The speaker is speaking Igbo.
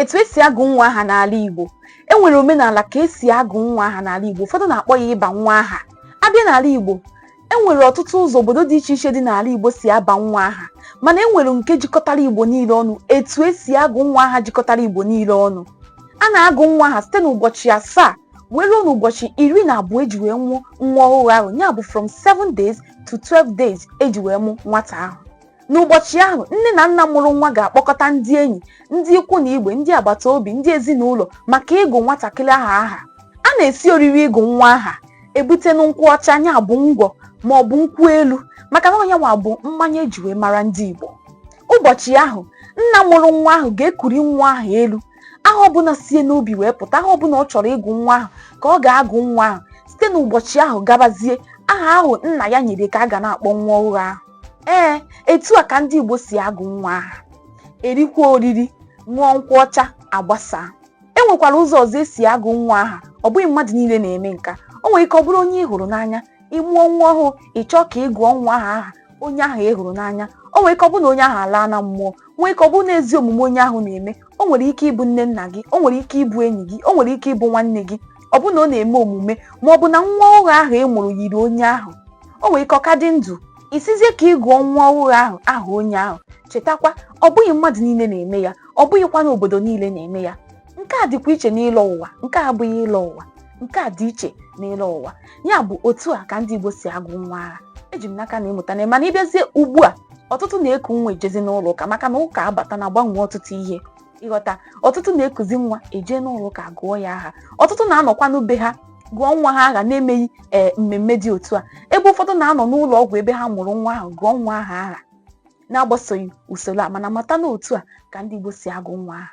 etu esi agụ nwa aha n'ala Igbo e nwere omenala ka esi agụ nwa aha n'ala Igbo ụfọdụ na-akpọ ya ịba nwa aha a bịa n'ala Igbo e nwere ọtụtụ ụzọ obodo dị iche iche dị n'ala Igbo si aba nwa aha mana e nwere nke jikọtara Igbo niile ọnụ etu esi agụ nwa aha jikọtara Igbo niile ọnụ a na-agụ nwa aha site n'ụbọchị asaa wee ruo n'ụbọchị iri na abụọ eji wee mụọ nwa ọhụrụ ahụ ya bụ from 7 days to 12 days eji wee mụ nwata ahụ N'ụbọchị ahụ, nne na nna mụrụ nwa ga-akpọkọta ndị enyi, ndị ikwu na ibe, ndị agbata obi, ndị ezinụlọ maka ịgụ nwatakịrị ahụ aha. A na-esi oriri ịgụ nwa aha ebute nkwụ ọcha nya bụ ngwọ ma ọ bụ nkwụ elu maka na ọ nyanwa bụ mmanya eji wee mara ndị Igbo. Ụbọchị ahụ, nna mụrụ nwa ahụ ga-ekuri nwa ahụ elu. Aha ọbụla sie n'obi wee pụta aha ọbụla ọ chọrọ ịgụ nwa ahụ ka ọ ga-agụ nwa ahụ. Site n'ụbọchị ahụ gabazie, aha ahụ nna ya nyere ka a ga na-akpọ nwa ọhụrụ ahụ. ee etu a ka ndị Igbo si agụ nwa aha erikwa oriri ṅụọ nkwụ ọcha agbasaa e nwekwara ụzọ ọzọ esi agụ nwa aha ọ bụghị mmadụ niile na-eme nke a o nwere ike ọ bụrụ onye ị hụrụ n'anya ị mụọ nwa ọhụụ ị chọọ ka ị gụọ nwa ahụ aha onye ahụ ị hụrụ n'anya o nwere ike ọ bụrụ na onye ahụ alaana mmụọ nwee ike ọ bụrụ na ezi omume onye ahụ na-eme o nwere ike ịbụ nne nna gị o nwere ike ịbụ enyi gị o nwere ike ịbụ nwanne gị ọ bụ na ọ na-eme omume ma ọ bụ na nwa ọhụrụ ahụ ị mụrụ yiri onye ahụ o nwere ike ọ ka dị ndụ ị sịzie ka ị gụọ nwa ọhụrụ ahụ aha onye ahụ chetakwa ọ bụghị mmadụ niile na-eme ya ọ bụghịkwa na obodo niile na-eme ya nke a dịkwa iche n'ịlọ ụwa nke a abụghị ịlọ ụwa nke a dị iche n'ịlọ ụwa ya bụ otu a ka ndị Igbo si agụ nwa aha eji m n'aka na ị mụtana mana ị bịazie ugbu a ọtụtụ na-eku nwa ejezi n'ụlọ ụka maka na ụka abatana gbanwee ọtụtụ ihe ị ghọta ọtụtụ na-ekuzi nwa eje n'ụlọ ụka gụọ ya aha ọtụtụ na-anọkwa na be ha gụọ nwa ha aha na-emeghị ee mmemme dị otu a ebe ụfọdụ na-anọ n'ụlọ ọgwụ ebe ha mụrụ nwa ahụ gụọ nwa ahụ aha na-agbasoghị usoro a mana mata na otu a ka ndị Igbo si agụ nwa aha